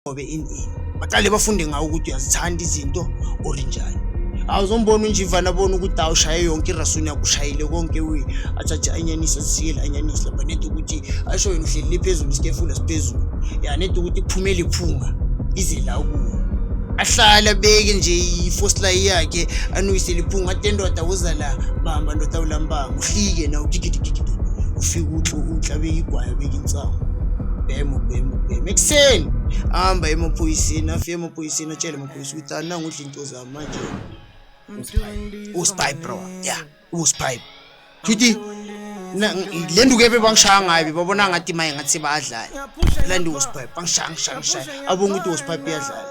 ngobe ini ini baqale bafunde ngawo ukuthi uyazithanda izinto or njani awuzombona unjivana abona ukuthi awushaye yonke irasuni yakushayile konke we athathe anyanise azisikele anyanise lapha nedi ukuthi asho wena uhleli liphezulu isikefula siphezulu ya nedi ukuthi kuphume liphunga ize la kuwo ahlale abeke nje ifosilayi yakhe anuyise liphunga ate ndoda uza la bamba ndoda ulambanga uhlike na ugigidigigidi ufike uthi uhlabe igwayo Nsangu. Bhemu, bhemu, bhemu. Ekuseni. Hamba emaphoyiseni, afike emaphoyiseni atshele amaphoyisa ukuthi ananga udla into zami manje. Uspy bro. Yeah, uspy. Futhi le nduku ebe bangishaya ngayo bebabona ngathi maye ngathi sebadlala. La nduku uspy. Bangishaya, ngishaya, ngishaya. Abonga ukuthi uspy uyadlala.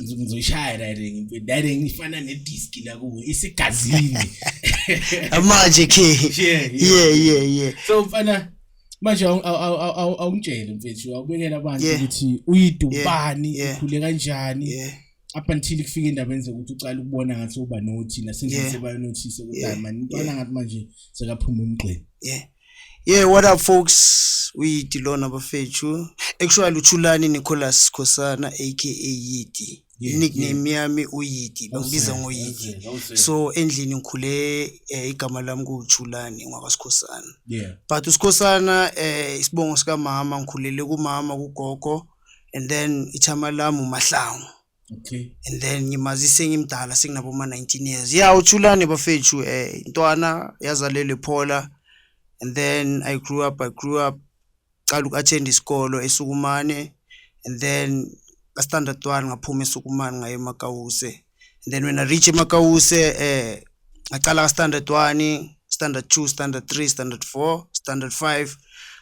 ngizoyishaya direct direct ifana ne disc la kuwe isigazini manje ke yeah yeah yeah so mfana manje awungitshele mfethu awubekela abantu ukuthi uyidubani ikhule kanjani up until kufike endabeni zokuthi ucala ukubona ngathi uba nothina sengise bayanothise ukuthi hayi mani ntwana ngathi manje sekaphuma umgqini yeah Yeah, what up folks? Uyiti lona bafethu. Actually uThulani Nicholas Khosana aka Yiti. Yeah, nickname yeah. yami uyiti bangibiza ngoyiti so endlini ngikhule eh, igama lami kuwuthulani ngwakasikhosana yeah. but usikhosana eh, isibongo sikamama ngikhulele kumama kugogo and then ithama lami umahlangu okay and then ngimazise ngimdala sekunaboma 19 years yeah uthulane bafethu eh intwana yazalelwe phola and then i grew up i grew up qala uku-attend isikolo esukumane and then ka-standard one ngaphuma esukumane ngaye emakawuse and then when i reach emakawuse eh ngaqala ka-standard one standard two standard three standard four standard five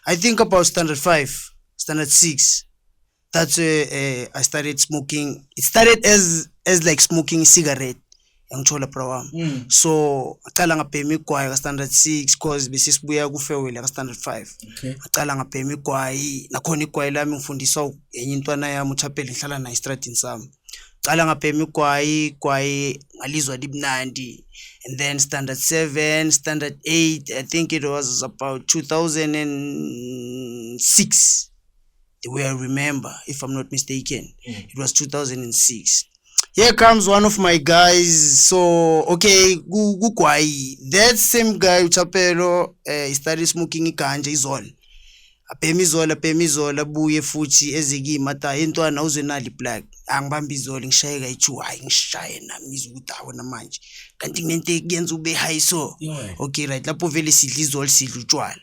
i think about standard five standard six that's where uh, i started smoking it started as as like smoking cigarette yangithola bra wami mm. so ngaqala ngabhema igwayi ka-standard six cause besisibuya kufewele ka-standard five okay. ngaqala ngabhema igwayi nakhona igwayi lami ngifundiswa enye intwana yami uthapele ngihlala naye estradini sami qala ngabhema igwayi igwayi ngalizwa libnandi and then standard seven standard eight i think it was about two thousand and six the way I remember, if I'm not mistaken. Mm. It was 2006. Here comes one of my guys. So, okay, Gukwai. That same guy, Chapelo, uh, eh, he started smoking ganja, is all. abhema izolo abhema izolo abuye futhi ezikimi ata intwana uzwenali black angibambe izolo ngishayeka ichu hayi ngishaye nami ngizwe ukuthi awu namanje kanti kunento ekuyenza ube high so okay right lapho vele sidla izolo sidla utshwala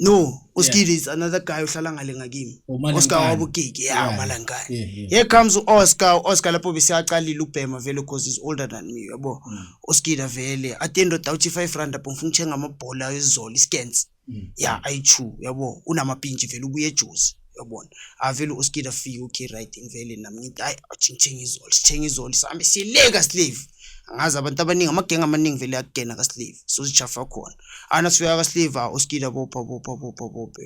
no uskidi yeah. is another guy uhlala ngale ngakimi oscar wabugigi ya yeah, umalangane yeah, yeah. here comes u-oscar u-oscar lapho besiyaqalile ubhema vele because is older than me yabo mm. uskida vele at the end of dawuthi five rand apho ngifuna ukuthenga amabhola ezolo iskens mm. ya yeah, ayi-two yabo unamapintshi vele ubuye ejuzi yabona avele uskida fika uki right ngivele nami ngithi hayi ngithenga izoli sithenga izoli sihambe sileka slave angazi abantu abaningi amagenge amaningi vele akugena kaslave sozijafa khona ana sifika kaslave ah, uskida bopha bopha bopha bophe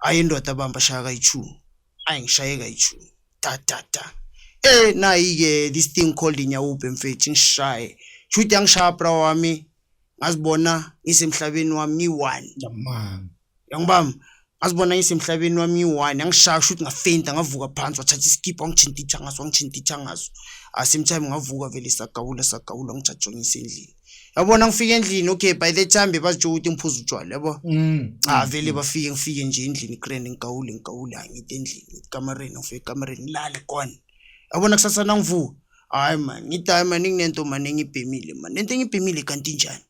ayi indoda abamba shaya kayi-two ayi ngishaye kayi-two da da da eh nayi-ke this thing called inyawubhe mfethu ngishaye shuthi angishaya bra wami ngazibona ngisemhlabeni wami ngiyi-one Yamanga. yangibam ngazibona ngisemhlabeni wami ngiyi-one yangishaya kusho ukuthi ngafenda ngavuka phansi wathatha isikipha wangithinta ithangaso wangithinta ithangaso Ah, same time ngavuka vele sagawula sagawula ngijajongisa endlini yabona ngifike endlini okay by the time bebazitsho ukuthi ngiphuza utshwala yabo Mm. Ah vele bafike ngifike nje endlini grand ngigawule ngigawule angithi endlini ngithi kamareni ngifike kamareni ngilale gone yabona kusasa nangivuka hayi mani ngithi hayi mani nginento mani engibhemile mani nento engibhemile kanti njani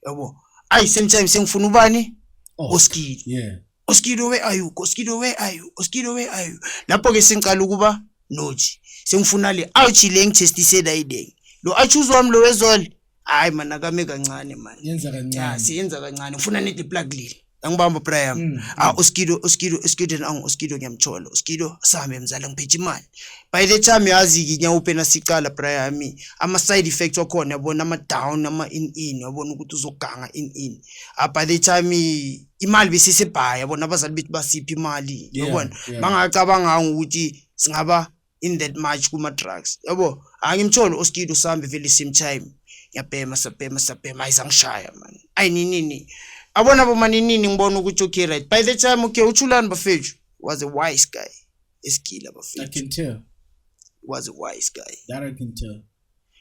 yabo ayi same time sengifuna ubani oh, oskili yeah oskili where are you oskili where are you oskili where are you lapho ke sengicala ukuba nothi sengifuna le ouch le ngithestisela idenge lo achuzwa mlo wezole hayi mani akame kancane mani yenza kancane siyenza kancane ngifuna nide plug lile angibamba bra yami mm, ah mm. uskido uskido uskido nangu uskido ngiyamthola uskido sami mzala ngiphethe imali by the time yazi nginyawupena sicala bra yami ama side effects wakhona yabona ama down ama in in yabona ukuthi uzoganga in in ah by the time imali besisebhaya yabona abazali bethu basiphi imali yabona bangacabanga ukuthi singaba in that much kuma drugs yabo angimtholi oskido sambe vele same time ngiyabhema sabhema sabhema ayizangishaya man ayininini abona bomaninini ngibona ukuthi okay right by the time okay uchulani bafethu was a wise guy esigila bafethu i can tell was a wise guy that i can tell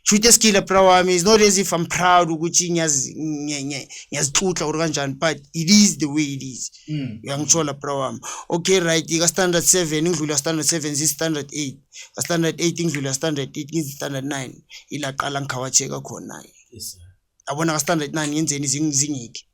shute skile bra wami is not as if i'm proud ukuthi ngiyazixutla or kanjani but it is the way it is mm. uyangitshola bra wami okay right ka-standard seven ingidlula standard seven ziyi-standard eight ka-standard eight ingidlula standard eight ngizi-standard nine ila qala ngikhawatsheka khona-ke yabona ka-standard nine ngenzeni zingiki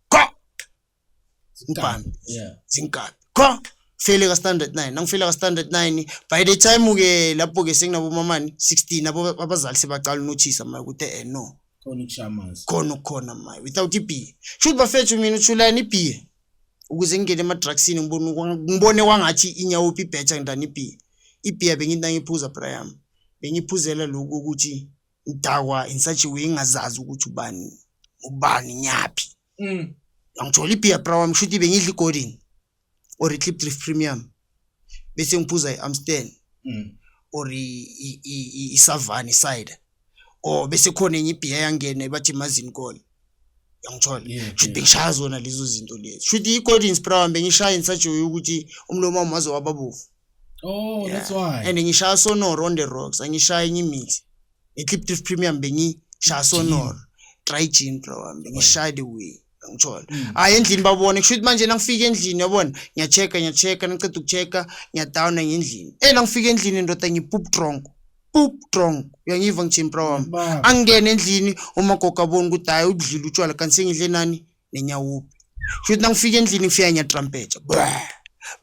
Zinkabi. Yeah. Zinkabi. Qha fele ka standard 9. Nangifela ka standard 9 by the time ke lapho ke senginabo mamani 16 abo abazali sebaqala unothisa manje ukuthi eh no. Khona ukushamanzi. Khona ukukhona manje without ibeer. Should bafethu mina uthulani ibeer. Ukuze ngingene ema drugsini ngibone ngibone kwangathi inyawo phi better ngidani ibeer. Ibeer bengithi ngiphuza Brian. Bengiphuzela lokho ukuthi ngidakwa in such a way ngingazazi ukuthi ubani ubani nyaphi. mm. angitholi ibhiya bra wami shuthi bengidla igolden or i-clip drift premium bese ngiphuza i-amstel mm. or isavani side or bese khona enye ibhiya yangena bathi imazini kona yangithola shuthi bengishaya zona lezo zinto lezi shuthi i-golden spra wami bengishaya ngisajoye ukuthi umlomo wami waze wababovu Oh, yeah. that's why. And ngishaya sonoro on the rocks, angishaya enye imithi. nge-clip drift premium bengishaya sonoro try jean bro wami bengishaya the way ngithola hayi mm. ah, endlini babone kusho ukuthi manje nangifika endlini yabona ngiya-check-a ngiya-check-a ngiqeda uku-check-a ngiyadowna ngendlini e nangifika endlini ndoda ngipup drong pup drong uyangiva ngijini bro wami angingene endlini umagogo aboni ukuthi hayi udlile utshwala kanti sengidle nani nenyawupi kusho ukuthi nangifika endlini ngifika ngiyatrampetsha bwe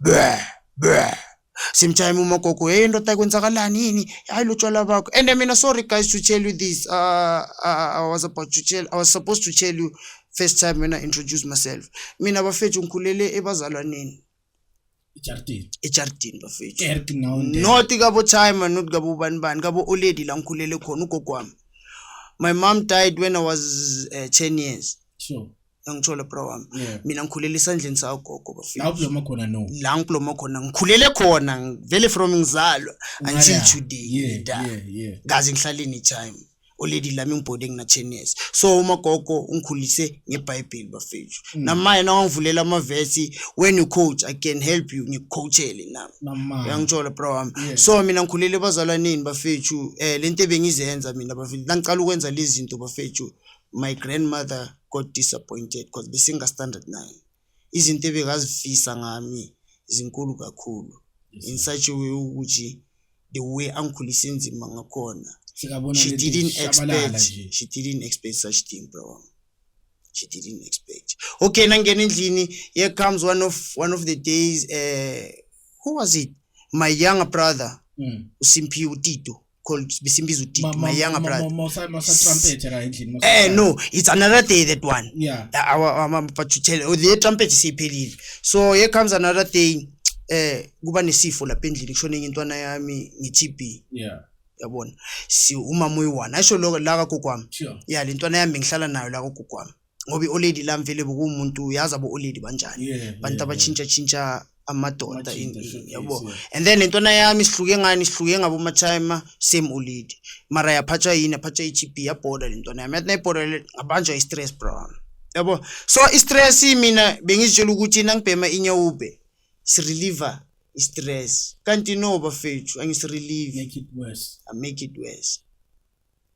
bwe bwe same time umagogo hey ndoda kwenzakalani yini hayi lotshwala bakho and mina sorry guys to tell you this uh, uh, i was about to tell i was supposed to tell you first time when i introduce myself mina bafethu ngikhulele ebazalwaneni ejardini ejardini bafethu not kabo time not kabo ubani bani kabo olady la ngikhulele khona ugogo wami my mom died when i was uh, 10 years sure angitsholo bro wami yeah. mina ngikhulele esandleni sagogo bafethu la uphiloma khona no la ngiphiloma khona ngikhulele khona ngivele from ngizalwa until today yeah, da yeah, yeah. kaze ngihlale any time oledi lami ngibhode nginachenes so umagogo ungikhulise ngebhayibheli bafethu mm. namaye nawangivulela amavesi when you coach i can help you ngikucoachele nami uyangithola bro wami yeah. so mina ngikhulele ebazalwaneni bafethu um eh, le nto ebengizenza mina bafethu nangiqala ukwenza lezi zinto bafethu My grandmother got disappointed because besinga standard 9. Izinto ebekazifisa ngami zinkulu kakhulu in such a way ukuthi the way angikhulise nzima ngakhona Sikabona she lento didn't ishabalala expect nje. she didn't expect such thing bro wami. she didn't expect okay nangena endlini here comes one of one of the days uh, who was it my younger brother Mm. usimphiwe utito called Bisimbiza Udidi, my younger brother. Eh no, it's another day that one. Yeah. Uh, our um, but to tell oh, the trumpet is isiphelile. So here comes another day. Eh kuba nesifo lapha endlini kushone enye intwana yami ngi-TB. Yeah. Yabona. Si umama uyi-one. Asho lokho la kagogo wami. Sure. Yeah, le ntwana yami ngihlala nayo la kagogo wami. ngoba i-oledi la mvele bokuwumuntu uyazi abo-oledi banjani abantu abatshintshatshintsha amadoda yabo and then lentwana yami sihluke ngani sihluke ngabomatime same oledi mara yaphathwa yini yaphathwa i-gb yabhoda lentwana yami yathi nayibhoda ngabanjwa i-stress brown yabo so i-stress mina bengizitshela ukuthi nangibhema inyawube sireliver i-stress kanti no bafethu angisirelive make it worse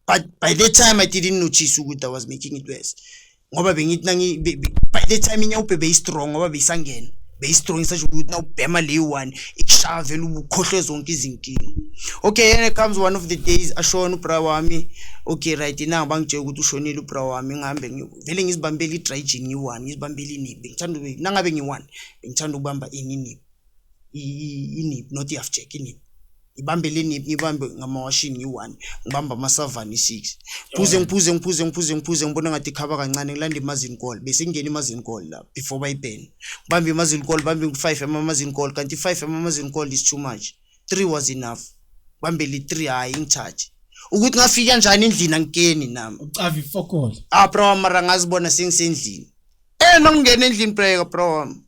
but by that time i didn't notice ukuthi i was making it worse ngoba bengithi nangi be- be- by that time inyawubhe beyistrong ngoba beyisangena beyistrong isasho ukuthi nawubhema le one ikushaya vele ukhohlwe zonke izinkinga okay and it comes one of the days ashona ubra wami okay right na bangitshela ukuthi ushonile ubra wami ngihambe ngi- vele ngizibambela i-dry gin ngiyi-one ngizibambela iniphi ngithanda ube- nangabe ngiyi-one bengithanda ukubamba ini iniphi inip not i-half jack inip ngibambe le nip ngibambe ngamawashini ngiyi-one ngibambe amasavani i-six phuze ngiphuze ngiphuze ngiphuze ngiphuze ngibona ngathi ikhaba kancane ngilanda imazini call bese ngingena imazini call la before bayibhene ngibambe imazini call bambe ngu-five amamazini call kanti i-five amamazini call is too much three was enough bambe li-three hhayi ngithathe ukuthi ngafika njani endlini angikeni nami ucavi fokol ah bro mara ngazibona sengisendlini eh nangingena endlini breka bro wami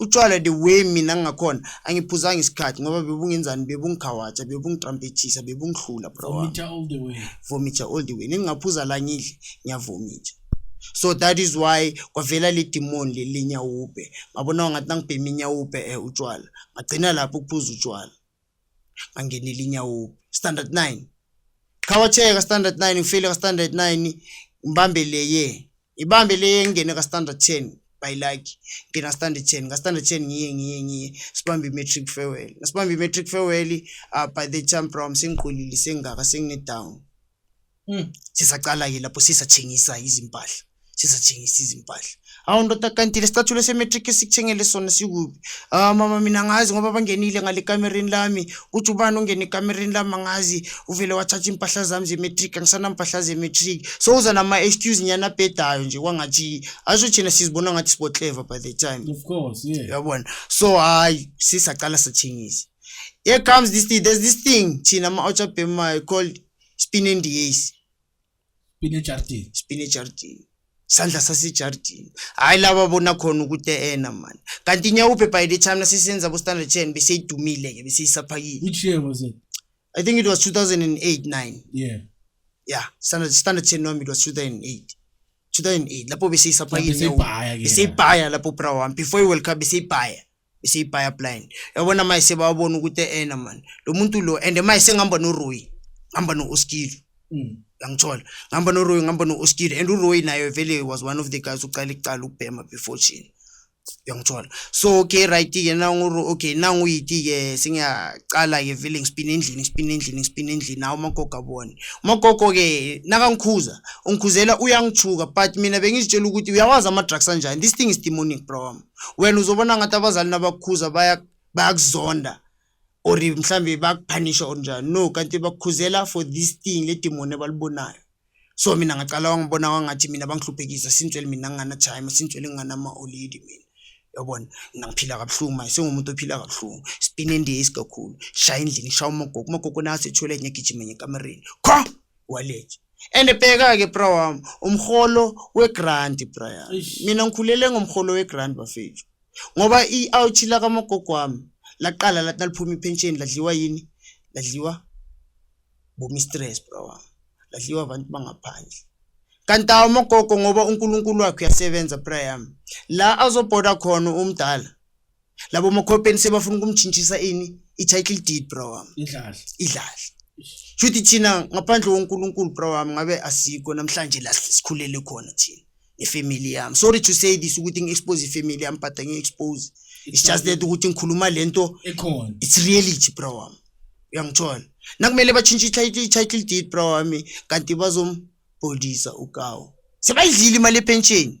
Utshwala the way mina ngakhona angiphuzanga isikhathi ngoba bebungenzani bebungikhawatsha bebungitrampethisa bebungihlula bro vomita all the way vomita all the way ningingaphuza la ngidle ngiyavomita so that is why kwavela le demon le lenyawube ngabona ngathi nangibhema inyawube eh utshwala ngagcina lapho ukuphuza utshwala angenile inyawubi standard 9 qhawatheka standard 9 ngifile ka standard 9 ngibambe leye ibambe leye ngene ka standard 10 by like ngina standard 10 ka standard 10 ngiye ngiye ngiye sibambe matric farewell nasibambe matric farewell uh, by the time from sengiqulile sengaka sengine down Mm. sisaqala-ke lapho sisathengisa izimpahla sisathengisa izimpahla awu ndoda kanti lesicathulo se-matric esikuthengele sona sikuphi ah mama mina ngazi ngoba bangenile ngale kamereni lami kuthi ubani ungene ekamereni lami angazi uvele wathatha iimpahla zami ze-matric angisanampahla ze-matric so uza nama-excuse nyana abhedayo nje kwangathi asho thina sizibona ngathi sibotleva by the time of course yeah yabona so hayi sisaqala sathengisa here comes this thing there's this thing thina ama-outer bema called spine ndiesi spine jardin spine jardin sandla sasejardin hayi laba bona khona ukuthi ena mani kanti nyawuphe by the time nasisenza bo-standard ten beseyidumile ke beseyisaphakile which year was it i think it was 2008 9 yeah yeah standard standard ten wami it was 2008 2008 lapho beseyisaphakileeseyibhaya lapho bra wami before iworld cup beseyibhaya isiyiphaya blind yabona maye sebawabona ukuthi ena mani lo muntu lo and maye sengihamba noroyi ngihamba no-oskilo mm. yangithola ngihamba noroyi ngihamba no-oskilo and uroyi naye vele was one of the guys ucala icala ukubhema before chini yangithola so okay right-ke nanguro okay nanguyiti-ke sengiyacala-ke vele ngisipina endlini ngisipina endlini ngisipina endlini nawo umagogo abone umagogo-ke nakangikhuza ungikhuzela uyangithuka but mina bengizitshela ukuthi uyawazi ama-drugs anjani this thing is demonic bro wami wena uzobona ngathi abazali nabakukhuza bayakuzonda or mhlambe bakuphanisha or njani no kanti bakukhuzela for this thing le demoni abalibonayo so mina ngaqala wangibona wangathi mina bangihluphekisa sintswele mina ngingana time sintswele ngingana ma olidi mina yabona mina ngiphila kabuhlungu manje sengumuntu ophila kabuhlungu sipine ndiyesi kakhulu shaya endlini shaya umagogo umagogo nayo sethwele ngiyagijima ngekamereni kho wallet and bheka ke bra wami umholo wegrant bra yami mina ngikhulele ngomholo wegrant bafethu ngoba i-ouch la kamagogo wami laqala lathi naliphuma ipension ladliwa yini ladliwa bomistress bra wami ladliwa abantu bangaphandle kanti awo amagogo ngoba unkulunkulu wakhe uyasebenza bra yami la azobhoda khona umdala labo makhopeni sebafuna ukumtshintshisa ini i-title deed bro wami idlala idlala shuthi thina ngaphandle wonkulunkulu bro wami ngabe asikho namhlanje la sikhulele khona thina ifamily yami sorry to say this ukuthi ngi-expose ifamily yami but angi-expose it's just that ukuthi ngikhuluma le nto ekhona it's reality bro wami uyangithola nakumele batshintshe i-title i-title deed bro wami kanti bazombhodisa ukawo sebayidlile imali epensheni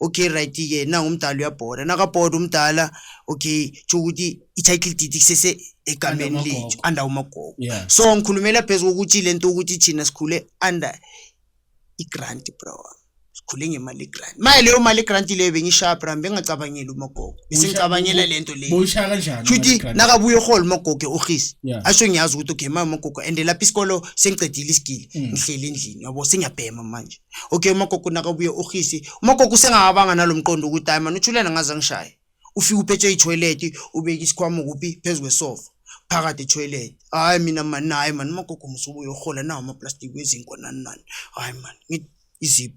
okay right ke nangu umdala uyabhoda nakabhoda umdala okay tsho ukuthi i-title deed kusese egameni lethu under umagogo yeah. so ngikhulumela phezu kokuthi le nto ukuthi thina sikhule under i-grant bro sikhule ngemali grant maye leyo mali grant leyo bengishabra bengacabangeli umagogo besengicabangela le nto leyoshaya kanjani shuthi nakabuye ehole umagogo eohisi asho ngiyazi ukuthi okay maye umagogo and lapho isikolo sengicedile isigili mm. ngihleli endlini yabo sengiyabhema manje Okay umagogo nakabuye urhisi. Umagogo usengakabanga nalomqondo ukuthi hayi man uthulena ngaze angishaye. Ufika uphethe itoilet ubeka isikhwama kuphi phezu kwesofa. Phakathi etoilet. Hayi mina man hayi man umagogo musubuye uhola nawo ama plastic wezinko nani nani. Hayi man ngithi izip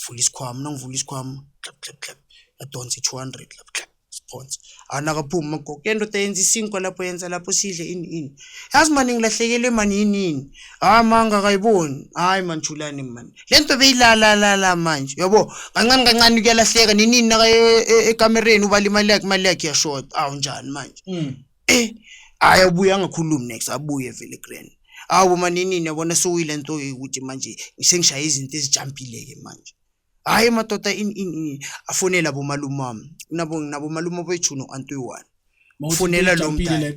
vula isikhwama nangivula isikhwama clap clap clap. Yadonsa i200 clap clap. Sphonsi. Ana akaphumi magogo. Yento tayenza isinkwa lapho yenza lapho sidle ini ini. Yazi mani ngilahlekelwe mani yini yini. Hayi ah, manga akayiboni. Hayi mani thulani mani. Lento beyilala la la manje. Yabo kancane kancane kuyalahleka nini naka e, e, ekamereni ubala imali yakhe imali yakhe yashort. Awu ah, njani manje. Mm. Eh hayi abuye angakhulumi next abuye vele grand. Awu manini yabona sewuyilento ukuthi manje sengishaye izinto ezijampile ke manje. Hayi madoda in in in afonela bomalume wami. Nabo nabo malume boyithuno antu yiwani. Fonela lo mdala.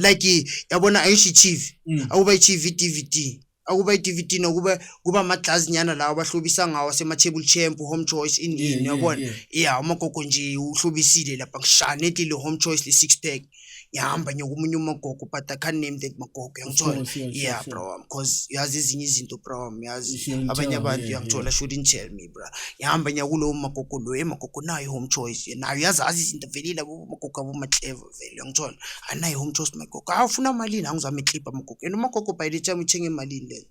Like yabona ayisho iTV. Mm. Akuba iTV DVD. Akuba iDVD nokuba kuba amaglass nyana lawo abahlobisa ngawo asema table champ home choice in in yabona. Yeah amagogo nje uhlobisile lapha kushane ethi le home choice le six pack. ngiyahamba ngiyokomunye umagogo but i can't name that magogo uyangithola yeah bro wam cause yazi ezinye izinto bro wam yazi abanye abantu uyangithola shouldn't tell me bro ngiyahamba ngiyakulowo magogo lo emagogo nayo home choice nayo yazazi izinto velile magogo abomatleva vele uyangithola anayo home choice magogo awufuna malini angizame iklipha magogo and umagogo by the time uthenge emalini lena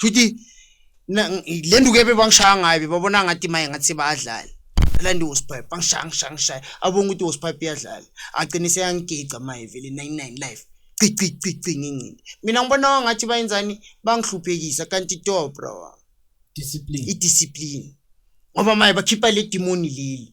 Shuthi le nduku ebe bangishaya ngayo bebabona ngathi maye ngathi sebadlala. Landi was pipe bangishaya ngishaya ngishaya abonga ukuthi was pipe iyadlala. Agcine seyangigica maye vele 99 life. Cici cici ngingcini. Mina ngibona ngathi bayenzani bangihluphekisa kanti to bro. Discipline. I discipline. Ngoba maye bakhipha le demon leli.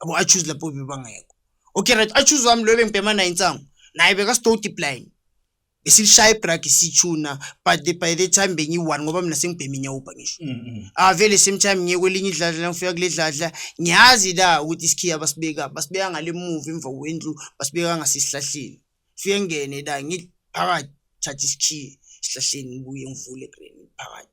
abo achuze lapho bebangekho okay right achuze wami loyo bengibhema naye insangu naye bekasitoti blind besilishaya ibragi sithuna but the, by the time bengiyi-one ngoba mina sengibhema inyawubha ngisho Mm, mm. avele same time ngiye kwelinye idladla la ngifika kule dladla ngiyazi la ukuthi isikhiya basibeka basibeka ngale muva emva kwendlu basibeka ngasesihlahleni fike ngene la ngiphakathi thatha isikhiya esihlahleni ngibuye ngivule green phakathi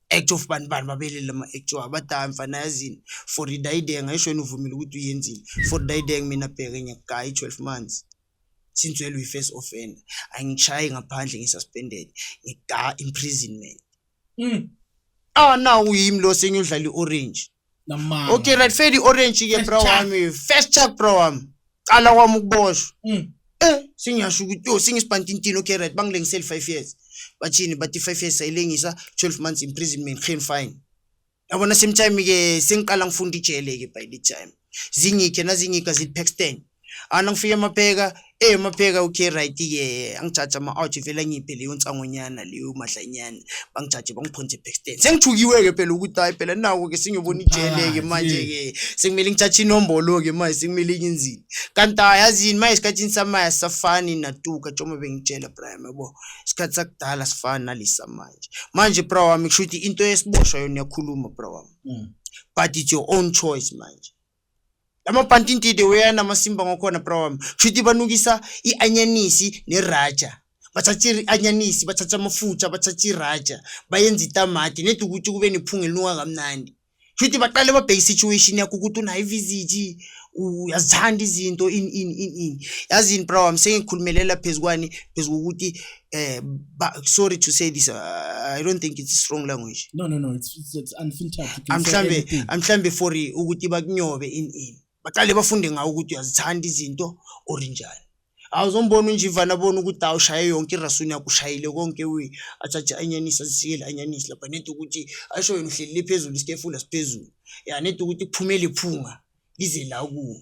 Act of bani bani babelele ama act abadaya mfana yazini for dayideng ayisho yena uvumile ukuthi uyenzile for dayideng mina bheke nyakayi 12 months since well we first offender angishayi ngaphandle ngisuspended ngida imprisonment mm. ah now uyimi lo sengiyodlala i-orange Namanga. okay right fedi orange ke First bro chuck. wami first chuck bro wami qala kwami ukuboshwa Mm. eh sengiyasho ukuthi yo sengisibantintini okay right bangilengisele 5 years bathini bathi 5 years sayilengisa 12 months imprisonment geen fine yabona same time ke sengiqala ngifunda ijele ke by the time zingikhe nazingika zili paxton ana ngifike mapheka eh mapheka okay right ke angijaja ama out vele ngiphe leyo nsangonyana leyo madlanyana bangijaje bangiphonze backstand sengithukiwe ke phela ukuthi hayi phela nawo ke singiyobona ijele ke manje ke sengimele ngijaje inombolo ke manje sengimele inzini kanti ayazini manje isikhathini samaya safani natuka njengoba bengitshela Brian yabo isikhathi sakudala sifana nalisa manje manje bro wami kushuthi into esiboshwa yona yakhuluma bro wami mm. but it's your own choice manje amabhantintide weyana amasimba ngakhona bra wami kushuthi banukisa i-anyanisi neraja bathatha i-anyanisi bathatha amafutha bathatha iraja bayenza itamati nedi ukuthi kube nephunga elinuka kamnandi kushuthi baqale babheke isituation yakho ukuthi unayo ivisiti uyazithanda izinto ini ini ini ini yazini bra wami sengikhulumelela phezu kwani phezu kokuthi uh, but sorry to say this uh, i don't think it's strong language no no no it's, it's, it's unfiltered mhlambe mhlambe for ukuthi bakunyobe in in baqale bafunde ngawo ukuthi uyazithanda izinto or njani awuzombona unjivana bona ukuthi awushaye yonke irasuni yakushayile konke we athathe anyanisa zisiyele anyanisi lapha nedi ukuthi asho wena uhlelile phezulu isitefula siphezulu ya nedi ukuthi kuphumele iphunga lize la kuwo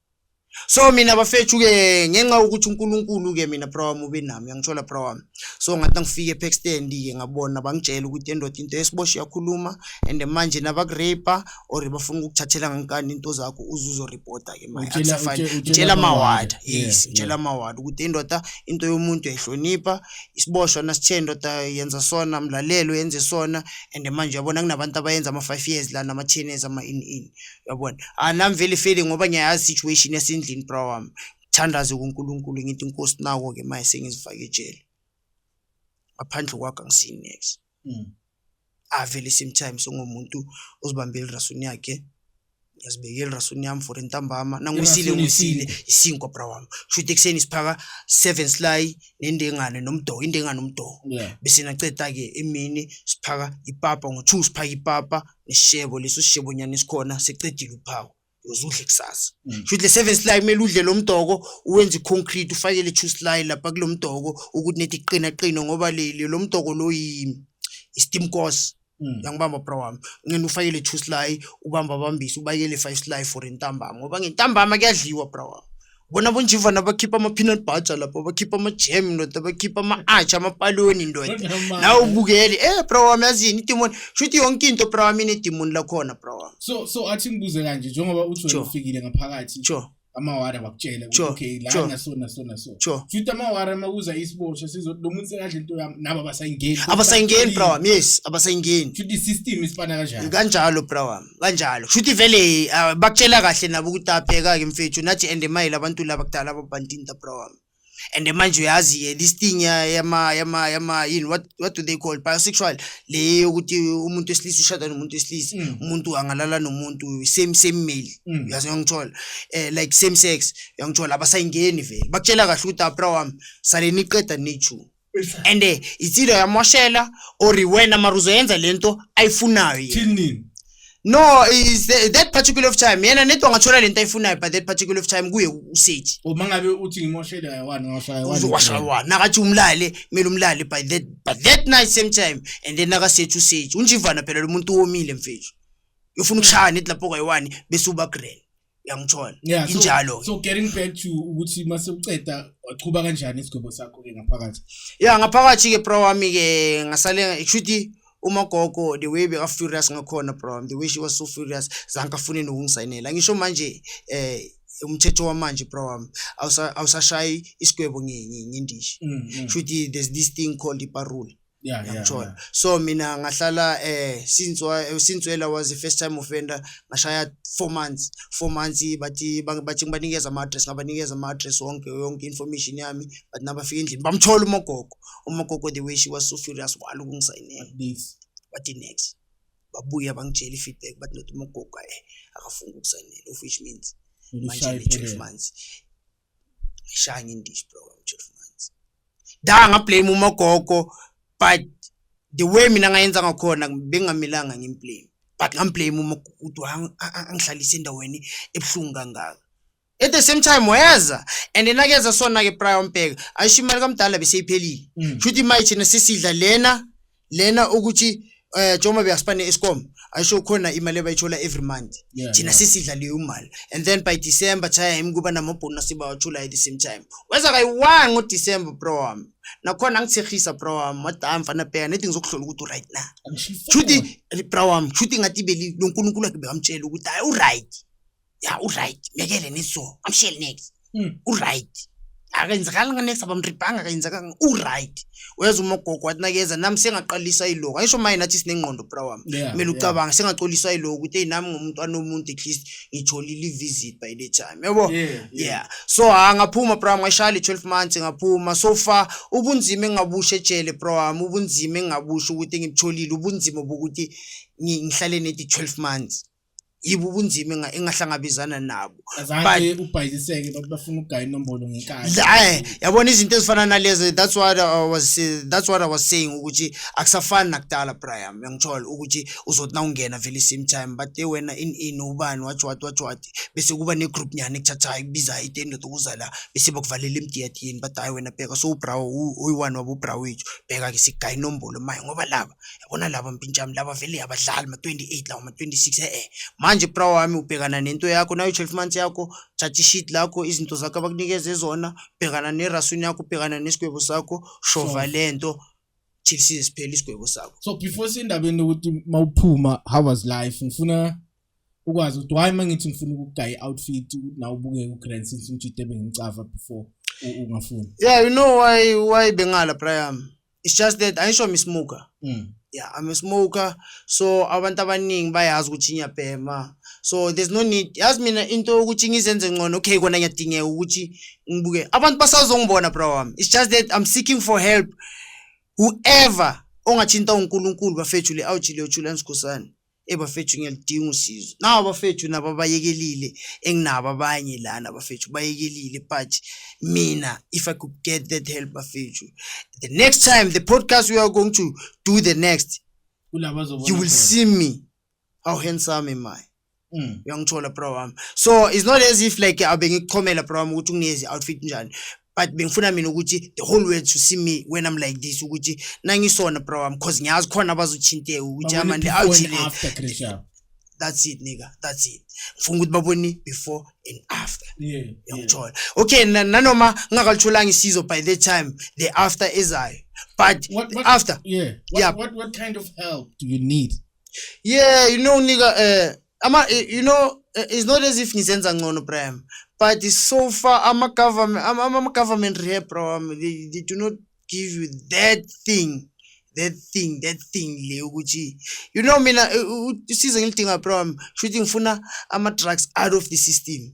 so mina bafethu ke ngenxa yokuthi uNkulunkulu ke mina bra wami ube nami uyangithola bra wami so ngathi ngifike epack stand ke ngabona bangitshela ukuthi endoda into esiboshe yakhuluma and manje nabakurape or bafuna ukukuthathela ngankani into zakho uzuzo reporter ke manje akusafani ngitshela mawada yes ngitshela mawada ukuthi indoda into yomuntu yayihlonipha isiboshwa nasithe indoda yenza sona mlalelo yenze sona and manje yabona kunabantu abayenza ama 5 years la nama 10 years ama in in yabona anamvele ah, ifeli ngoba ngiyayazi situation yasendlini bra wami ngithandaze kuNkulunkulu ngithi inkosi nako ke manje sengizifake ejele ngaphandle kwakho angisini next mm. avele same time sengomuntu ozibambele rasuni yakhe ngiyazibekela rasuni yami for intambama nangisile ngisile isinkwa bra wami shuthi ekuseni siphaka seven sly nendengane nomdoho indengane nomdoho bese naceda ke emini siphaka ipapa ngo-two siphaka ipapa Isishebo leso sishebo nyana esikhona seqedile uphawu. Uzudle kusasa. Mm. Shuthi le seven slide mele udle lo mdoko uwenze i-concrete ufake le two slide lapha kulo mdoko ukuthi nethi qina qina ngoba le le- lo mdoko lo yi- i-steam course. Mm. Yangibamba bra wami. Ngene ufake le two slide ubamba bambise ubakele five slide for intambama ngoba ngentambama kuyadliwa bra wami. bona bonjivana bakhipha ama-peanut butter lapho bakhipha ama-jam ndoda bakhipha ama-atsha amapaloni ndoda nawe ubukele e eh, bra wami yazini idimoni shuthi yonke into bra wami inedimoni lakhona bra wami so so athi ngibuze kanje njengoba uthi ufikile ngaphakathi sure amawara bakutshela ukuthi okay la naso naso naso futhi amawara makuza isibosha sizo lo muntu sekadla into yami nabo abasayingeni abasayingeni bro yes abasayingeni futhi system isifana kanjalo kanjalo bro wami kanjalo shuthi vele uh, bakutshela kahle nabo ukuthi apheka ke mfethu nathi and emayile abantu laba kudala ababantinta bro wami and manje uyazi-ke this thing yama yama yama yini what, what do they call bisexual le yokuthi umuntu wesilisa ushada nomuntu wesilisa mm. umuntu angalala nomuntu same same male mm. uyazi uyangithola um eh, like same sex uyangithola abasayingeni vele bakutshela kahle ukuthi abra wami sale niqeda nichu and eh, it's either uyamoshela or wena mara uzoyenza le nto ayifunayo yena. Thini nini? no is the, that particular of time yena nento angathola le nto ayifunayo but that particular of time kuye useji Uma ngabe uthi ngimoshele ayawani ngashaya wani. uzowashawa nakathi umlale kumele umlale by that by that night same time and then nakasethi useji unjivana phela lo muntu womile mfethu ufuna ukushaya neti lapho kwayi-one bese uba grand yangithola yeah, so, injalo so getting back to ukuthi mase uceda waqhuba kanjani isigwebo sakho ke ngaphakathi yeah ngaphakathi ke bro wami ke ngasale kushuthi umagogo the way beka furious ngakhona bro the way she was so furious zanka fune nokungisayinela ngisho manje eh umthetho wamanje bro wami awusashayi isigwebo ngindishi mm, mm. shuthi there's this thing called iparole yeah, yeah, yeah. so mina ngahlala eh since since wela was the first time offender ngashaya 4 months 4 months bathi bathi ngibanikeza ama address ngabanikeza ama address wonke yonke information yami but nabafika endlini bamthola umogogo umogogo the way she was so furious walo kungisayinela this bathi next babuya bangitshela feedback bathi not umogogo eh akafunga ukusayinela of which means manje 12 months Shining dish bro I'm just manzi da nga blame umogogo but the way mina ngayenza ngakhona bengamilanga ngimblame but ngamblame uma ukuthi angihlalise endaweni ebuhlungu kangaka at the same time weza and yena keza sona ke prior mbheka ayisho imali kamdala beseyiphelile mm. shuthi imali thina sisidla lena lena ukuthi eh njengoba beyasipane escom ayisho khona imali abayithola every month Yeah, thina yeah. sisidla leyo mali and then by december time kuba namabhonus sibawathula at the same time weza kayi-one ngodecember bro wami nakhona angithehisa bro wami wadam fana bheka nedi ngizokuhlola ukuthi u-right na shuthi bro wami shuthi ngathi beli lonkulunkulu wakhe bekamtshela ukuthi hayi u-right ya uright mekele neso amshele next hmm. uright akenzekanga nga next abamribhanga akenzekanga uright weza umogogo wathi nakeza nami sengaqalisa iloku ayisho maye nathi sinengqondo bra wami kumele ucabanga sengacolisa iloku ukuthi eyi nami ngomuntu anomuntu at least ngitholile i-visit by the time yabo yeah so ha ngaphuma bra wami ngashaya le twelve months ngaphuma so far ubunzima engabusha ejele bra wami ubunzima engabusha ukuthi ngibutholile ubunzima bokuthi ngihlale nedi twelve months yibo ubunzima enga- engahlangabezana nabo azange ubhayiziseke bathi bafuna ukugaya inombolo ngenkani La- eh, yabona izinto ezifana nalezo that's what I was eh, that's what I was saying ukuthi akusafani nakudala Brian ngiyangithola ukuthi uzothi nawungena vele same time but eh, wena in in ubani wathi wathi wathi wathi bese kuba ne group nyane ekuthathayo ikubiza itendo ukuza la bese bakuvalela emdiyadini but hayi wena bheka so ubra oyi one wabo ubra wethu bheka ke sigaya inombolo maye ngoba laba yabona laba mpintshami laba vele yabadlali ma-28 lawa ma-26 e-e manje bra wami ubhekana nento yakho nayo i-twelve months yakho thatha ishit lakho izinto zakho abakunikeze zona bhekana nerasuni yakho bhekana nesigwebo sakho shova le nto till size siphele isigwebo sakho so before sendabeni lokuthi uma uphuma how was life ngifuna ukwazi ukuthi why uma ngithi ngifuna ukugaya i-outfit ukuthi nawe ubukeke ugrand since umjide bengimcava before ungafuni yeah you know why why bengala bra yami it's just that ayisho I'm a smoker mm. yeah I'm a smoker so abantu abaningi bayazi ukuthi ngiyabhema so there's no need yazi mina into yokuthi ngizenze ngcono okay kona ngiyadingeka ukuthi ngibuke abantu basazongibona bro wami it's just that I'm seeking for help whoever ongathinta uNkulunkulu bafethu le awujile uJulian Skhosana Eyi bafethu ngiyalidinga usizo. Nawo bafethu nabo abayekelile enginabo abanye lana bafethu bayekelile but mina if I could get that help bafethu. The next time the podcast we are going to do the next kulaba azobona you will khona. see me how handsome am I. Mm. uyangithola bro wami so it's not as if like abe ngikuchomela bro wami ukuthi unezi outfit njani but bengifuna mina ukuthi the whole world to see me when I'm like this ukuthi nangisona bro wami cause ngiyazi khona abazothinteka ukuthi amande awujile that's it nigga that's it ngifuna ukuthi babone before and after yangithola okay nanoma ngingakalitholanga isizo by that time the after ezayo but what, what, after yeah what, yeah what, what kind of help do you need yeah you know nigga uh, ama you know eh, it's not as if nizenza ngcono Bram but so far ama government ama, ama government rehab program they, they do not give you that thing that thing that thing le ukuthi you know mina eh, usize ngilidinga program shuthi ngifuna ama drugs out of the system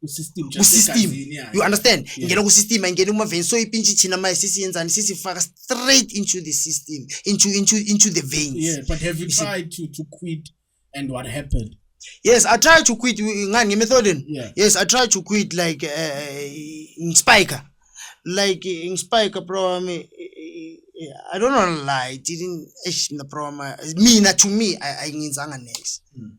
kusystem kusystem you understand yeah. ingena kusystem ayingena kumaveni so ipintsha ithina manje sisiyenzani sisifaka straight into the system into into into the veins yeah but have you tried to to quit and what happened yes i tried to quit ngani ngemethodin yeah. yes i tried to quit like uh, uh ngispike like uh, ngispike bro i mean I don't know lie. It didn't. Eish, the problem. Mina to me, I I ngenzanga next. Mm.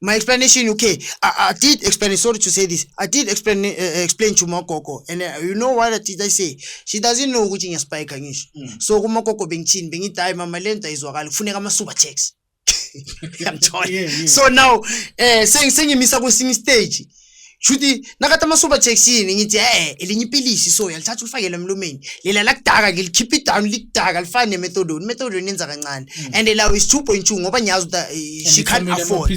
my explanation okay I, I did explain sorry to say this I did explain uh, eh, explain to Mokoko and uh, you know what did I say she doesn't know ukuthi ngiyaspike ngisho mm. so kuMokoko bengithini bengithi hayi mama lento izwakala kufuneka ama super checks yamthola yeah, yeah. so now eh uh, sengimisa kwesinye stage shuthi nakatha ama-super jackson ngithi e-e elinye ipilisi so yalithatha ulifakele emlomeni lela lakudaka ke likhipha idown likudaka lifane nemethadone imethadone yenza kancane mm. and lawo is two point two ngoba ngiyazi ukuthi eh, she can't afford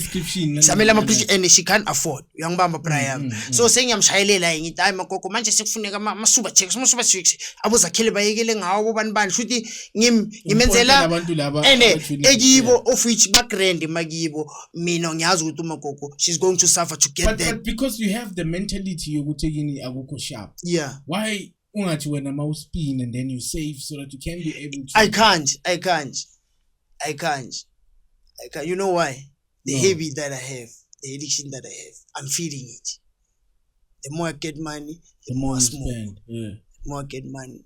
samele ama-prescription and she can't afford uyangibamba mm, brian mm, so sengiyamshayelela-ke ngithi hayi makoko manje sekufuneka ama-super jacks ama-super jacks abozakhele bayekele ngawo bobani bani shuthi ngimenzela ene ekibo of which bagrand makibo mina ngiyazi ukuthi umagogo she's going to suffer to get but, that but because you have the mentality yokuthi kini akukho sharp yeah why ungathi wena ma uspin and then you save so that you can be able to i can't i can't i can't i can't you know why the no. habit that i have the addiction that i have i'm feeling it the more i get money the, the more, more i smoke spend. Yeah. the more i get money